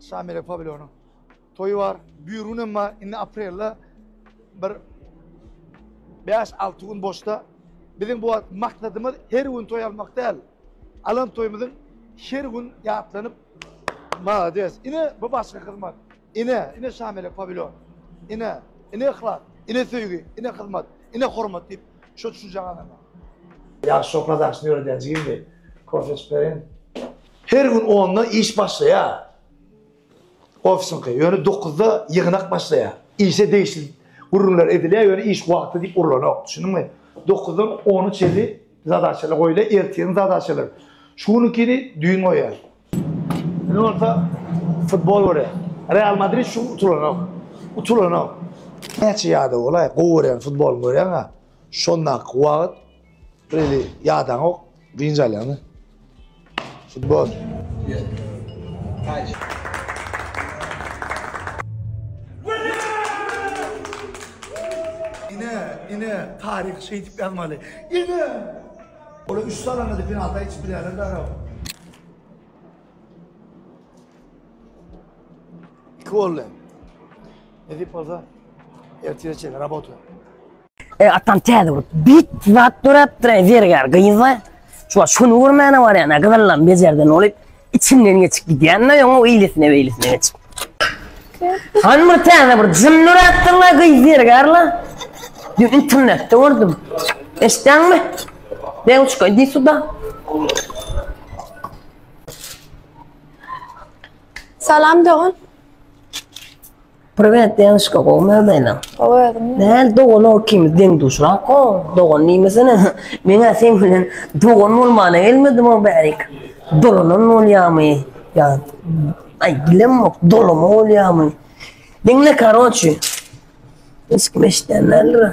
Şamile Pavlonyň toýy bar. Büýrüň hem bar. Indi aprelde bir 5-6 gün boşda. Biziň bu maksadymyz her gün toý almak däl. Alan toýumyzyň her gün ýatlanyp Malades. Ine bu başga hyzmat. Ine, ine Şamile Pavlon. Ine, ine yhlas, ine söýgi, ine hyzmat, ine hormat diýip şo düşünje gazanmak. Ýagşy şokoladan şunu öwredýän jigim diýip, kofe içip bereýin. Her gün onda iş başlaýar. Ofisiňki, ýöne dokuzda ýygnak başlaýar. Işe degişli gürrüňler edilýär, ýöne iş wagty diýip urlanok. Düşündiňmi? Dokuzdan ona çenli zadaçalar goýulýar, ertiriň zadaçalary. Şu günkini düýn goýýar. Indi bolsa futbol görýär. Real Madrid şu gün utulanok. Utulanok. Näçe ýada bolaý, gowy görýän futbolyňy görýäň-ä. Şondaky wagt. Really ýadaň ok, dynç alýaňmy? Futbol. Ine, ine, taryh şeýdip ýazmaly. Ine! Ola üç salana da penalta hiç bilýärler dara. İki oldu. Edip olsa erteye çeyin, rabota. E, atam täze bolup, bit zat dörepdir, e, zergär gyzla. Şu şunu görmäne bar yani, gyzallam bejerden olup, içinden geçip gidýän de, ýoňa eýlesine beýlesine geçip. Han bir täze bir jyn dörepdir la, gyz zergär la. Dün internetde gördüm. Eşitdäňmi? Dewçka, idi suda. Salam dogan. Privet Denişka gowy mömeniň. Gowy özüm. Näl dogan ol kim deň duşrak o dogan nimesine. Meňä sen bilen dogan bolmana gelmedim o bärik. Dolanan bolýamy? Ya ay bilemok dolama bolýamy? Diňle karoçi. Hiç kim eşdenlerdir.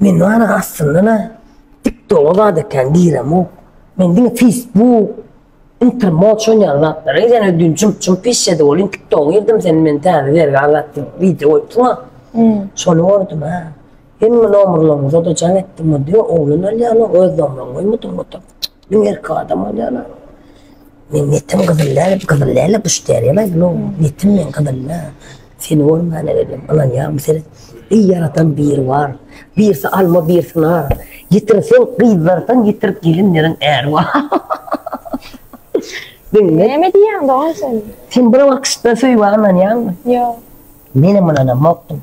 Men bana aslynda ne? Tik doga da eken giremok. Men diňe Facebook Inter moç oýnaýan zatlary sen ödün çum çum pis ýedi bolýyn tiktogy girdim sen men täze zergä azat diýip wideo goýupsyňa şony gördüm ha hemme nomerleriňizi oda jaň etdim indi oglan alýana öz nomeryňy goýmadyň oturyp iň erki adam bolýana men netim gyzyl däl gyzyl däl-le buşteriýa-la netim men gyzyl-la. Seni bolman ellem ynanýarmy sen? Eý ýaradan biri bar, birsi alma birsi nar, ýitirseň gyzlardan ýitir gelinleriň äri bar. Diňle. Näme diýýäň dogan sen? Sen bir wagtda söýgä ynanýaňmy? Ýok. Menem ynanamokdym.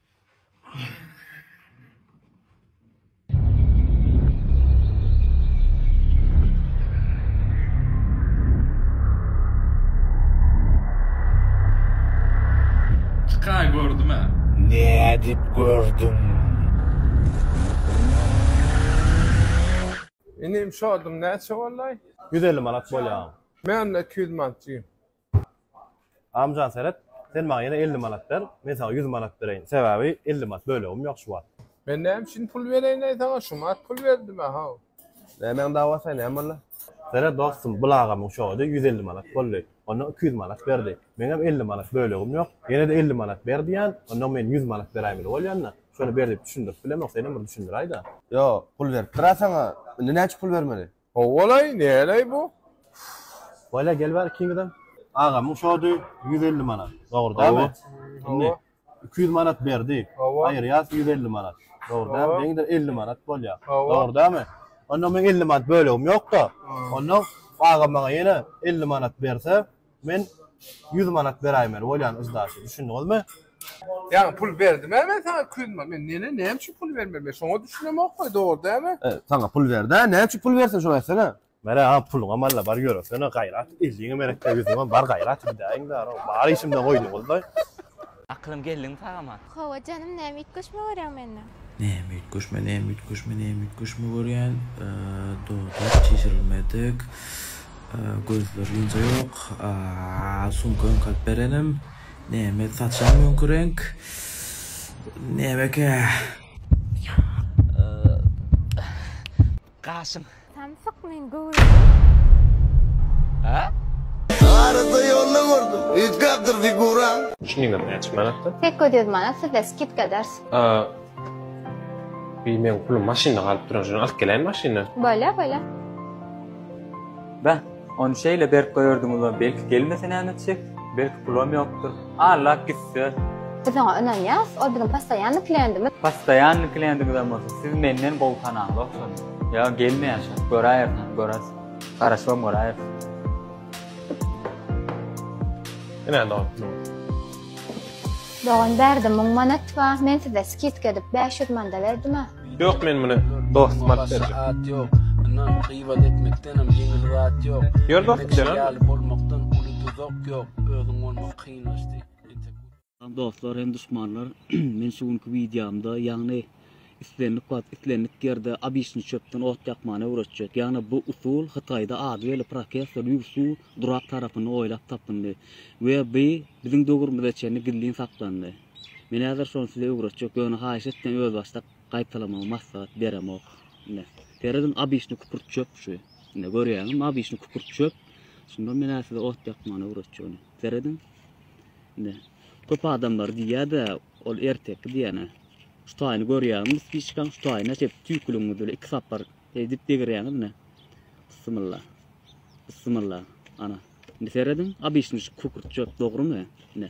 Çykay gördüm ha. Ne edip gördüm? Inim şodum näçe bollay? Ýüz elli manat bolýar. Men-de iki ýüz manat diýim. Amjan seret, sen maňa ýene elli manat ber, men saňa ýüz manat bereýin. Sebäbi elli manat bölegim ýok şu wagt. Men näme üçin pul bereýin-aý saňa, şumat pul berdim-ä, haw. Nämäň dawasy-aý, näme boldy? Seret, dostum, bul agamyň şogady ýüz elli manat boldy. Ondan iki ýüz manat berdi. Meňem elli manat bölegim ýok. Ýene-de elli manat ber diýýän. Ondan men ýüz manat beräýmeli bolýan-da. Şony ber diýip düşündirip bilemok, senem bir düşündiräý-de. Ýok, pul beripdir-ä saňa. Indi näçe pul bermeli? Howwalaý näleý bu. Wala gel bar ikiňizem. Agamyň şody ýüz elli manat. Dogry dälmi? Indi iki ýüz manat berdi. Aýyrýas ýüz elli manat. Dogry dälmi? Deňidir elli manat bolýa. Dogry dälmi? Onda meň elli manat bölegim ýok-da. Onda agam maňa ýene elli manat berse, Men ýüz manat beräýmeli bolýan yzdaşy, düşündiňizmi? Ýaňy pul berdim-ä men saňa Kuzma, men nene näme üçin pul bermeli, men şoňa düşünemok goý, dogry dälmi? Saňa pul berdi-ä, näme üçin pul bersin, şony aýtsana? Mere aga, puluňam alla bar, ýöresene, gaýrat, elliňem erekde, ýüzüňem bar, gaýrat, gidäýiň-dä, bar işimden goýduňyz-laý. Akylym geldiňmi sagama. Hawa janym näme üýtgeşme görýäň mende. Näme üýtgeşme näme üýtgeşme näme üýtgeşme görýän dodak çişirilmedik gözler ýunja ýok sumka öňkälip berenim näme saçam öňki reňk nämekä. Gaşym. Samsyk men göwreli. Hä? Arada ýolda gördüm. Üýtgäpdir figuraň. Çynyňam näçe manatdy? Sekiz ýüz manat sizde skidka eders. Bi meň pulum maşynda galyp duran şony alyp geläýin maşyndan. Bolýa bolýa. Bä. Ony şeýle berk goýardyňyzam, belki gelmese näme etjek? Belki pulam ýokdur. Allap gitse? Biz oňa ynanýas, ol biziň postoýannyý kliýentimiz. Postoýannyý kliýentiňizem bolsa, siz menden gowy tanaňyz ogşady. Ýa gelmeýär şa, göräýeris hany, göräýs. Garaşybam göräýeris. Ine dogan pul bar. Dogan bärde müň manat bar, men size skidka edip bäş ýüz manda berdim-ä. Yok men bunu dost mat berjek. Saat yok. Inan gıybat etmekten hem yeni rahat yok. Yer dost gidelim. Yali olmaktan ulu tuzak yok. Özün olmak kıyınlaştı. Dostlar hem düşmanlar. men şu günki videomda yani islendik wagt islendik ýerde abiçni çöpden ot ýakmany öwretjek. Ýagny bu usul Hytaýda ady belli professor Yu Su durak tarapynda oýlap tapyndy we bu biziň döwrümize çenli gizlin saklandy. Men häzir şony size öwretjek, ýöne haýyş etseň özbaşdak gaýtalamagy maslahat beremok. Ine, serediň obyçny kükürt çöp şu. Ine görýäňizmi obyçny kükürt çöp. Şunda men size ot ýakmany öwretjegini. Serediň. Ine. Köp adamlar diýýär-de, ol erteki diýene. Şu taýyny görýäňizmi spiçkaň şu taýyny açyp tüýküligiňiz bilen iki sapar edip degirýäňiz ine. Bismillah. Bismillah. Ana. Indi serediň, obyçny şu kükürt çöp dogrumy? Ine.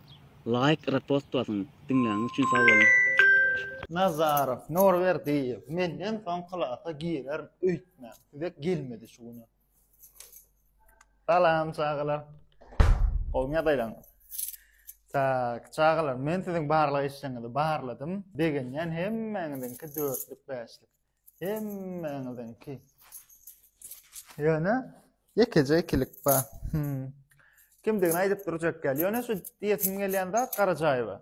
Laýk repost basyň. Diňläniň üçin sag boluň. Nazarow Nurberdiýew menden soň klasa girerin öýtme size gelmedi şu güni. Salam çagalar. Gowymy ýagdaýlaryňyz. Tak, çagalar men siziň barlag işleriňizi barladym. Begenýän hemmäňiziňki dörtlük bäşlik. Hemmäňiziňki. Ýöne ýekeje ikilik bar. Hmm. Kimdigini aýdyp durjak gel. Ýöne şu diýesim gelýän zat Garajaýewa.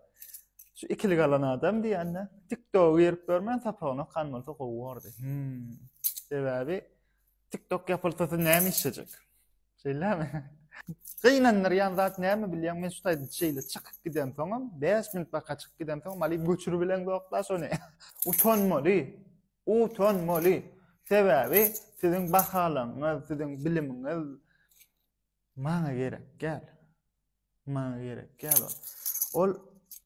Şu ikilik alan adam diýende TikTok girip görmän sapagyny okan bolsa gowy bordy. Hmm. Sebäbi TikTok ýapylsasy näme işlejek? Şeýlemi? Gynandyrýan zat näme bilýäň? Men şu taýda şeýle çykyp giden soňam, 5 minut baka çykyp giden soňam alyp göçürip bilen zokda şony. Utanmaly. Utanmaly. Sebäbi siziň bahalaryňyz, siziň bilimiňiz maňa gerek gel. Maňa gerek gel. Ol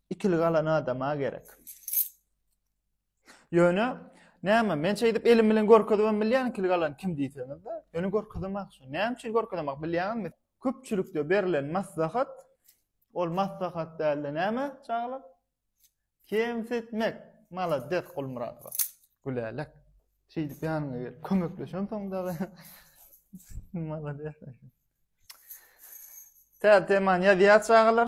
ikili galan adama gerek. Ýöne näme, men şeýdip elim bilen görkezibem bilýän kil galan kim diýseňiz-de, ýöne görkezemak şu. Näme üçin görkezemak bilýäňizmi? Köpçülikde berlen maslahat, ol maslahat dälde näme çagalar? Kemsitmek. Malades Gulmyradowa. Gülälek. Şeýdip ýanyňa gelip kömekleşen soň dagy. Malades. Täze temany ýazýar çagalar.